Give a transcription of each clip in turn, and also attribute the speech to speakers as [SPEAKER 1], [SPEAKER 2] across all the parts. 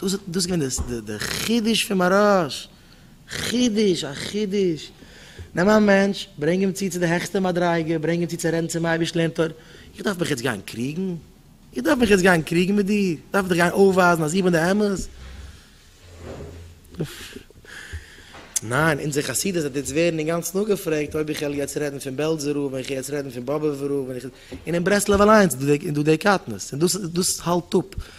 [SPEAKER 1] דאס איז געווען די חידוש פון מהרש א, חידוש א חידוש, נעם א מענטש ברענג אים צו צו די העכסטע מדריגה, ברענג אים צו צו רעדן צום אייבערשטן לערנט ער, איך דארף מיך יעצט גיין קריגן? איך דארף מיך יעצט גיין קריגן מיט דיר? איך דארף דיך גיין אויפווייזן אז איך בין די אמת? ניין, אונזער חסידות וועט יעצט ווערן אינגאנצן אפגעפרעגט אויב איך וועל יעצט רעדן פון בעלזער רב און איך וועל יעצט רעדן פון באבובער רב און איך, און אין ברסלב אליינס איז דא די קטנות און דאס דאס האלט אפ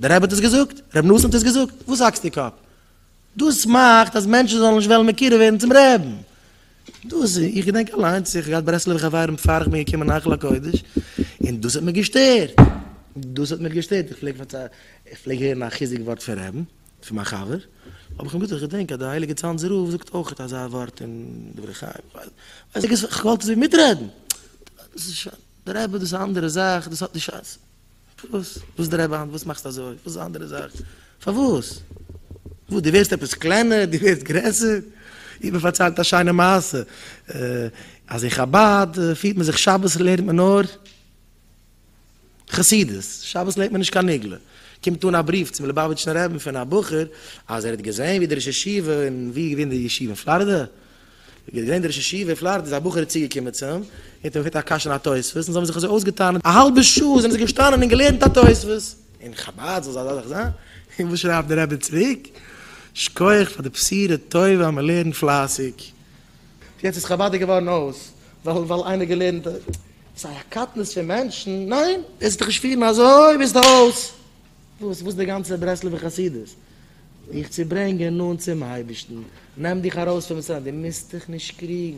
[SPEAKER 1] דער רבי האט עס געזאגט? רבי נתן האט עס געזאגט? וואס האקסטו קאפ? דאס מאכט אז מענטשן זאלן נישט וועלן מקורב ווערן צום רעבן. דאס איז, איך געדענק אליינס, איך האב געהאט ברסלב'ע חברים בעפאר איך בין געקומען אין היכל הקודש, און דאס האט מיר געשטערט, דאס האט מיר געשטערט, איך פלעג פארציילן, איך פלעג הערן א חיזוק ווארט פון רעבן, פון מיין חבר, האב איך אים געזאגט, איך געדענק אז די הייליגע צאנזער רב זאגט אויכעט אזא ווארט אין דברי חיים, ווייס איך, איך וואלט עס ווי מיטרעדן, דאס איז שוין, דער רבי דאס איז א אנדערע זאך, דאס האט נישט א. פארוואס? וואס דרייוו היינט? וואס מאכסטו אזוי? וואס איז א אנדערע זאך? פארוואס? וואס דו ווערסט עפעס קלענער? דו ווערסט גרעסער? איך בין פארציילט א שיינע מעשה אז אין חבד פירט מען זיך שבת לערנט מען נאר חסידות, שבת לערנט מען נישט קיין נגלה, קומט אן א בריוו צום ליבאוויטשן רבי פון א בחור אז ער האט געזען ווי דער ראש ישיבה אין ווי איז געווען די ישיבה אין פלארידע? ווי געהער געווען דער ראש ישיבה אין פלארידע איז א בחור צוגעקומען צו אים און האט אים געפרעגט א קשיא אין א תוספות און זיי האבן זיך אזוי אויסגעטאן א האלבע שעה זענען זיי געשטאנען און געלערנט א תוספות אין חבד זאל אזא זאך זיין און וואס שרייבט דער רבי צוריק שקויעך פאר די בשירה טובה אז מען לערנט פלייסיג יעצט איז חבד געווארן אויס ווייל ווייל איינער געלערנט א. סיי א קטנות פון מענטשן ניין וועסט דיך נישט פירן אזוי ביסט אויס. וואס וואס די גאנצע ברסלב'ע חסידות? דיך צו ברענגען נאנט צום אייבערשטן, נעם דיך ארויס פון מצרים, די מוזט דיך נישט קריגן,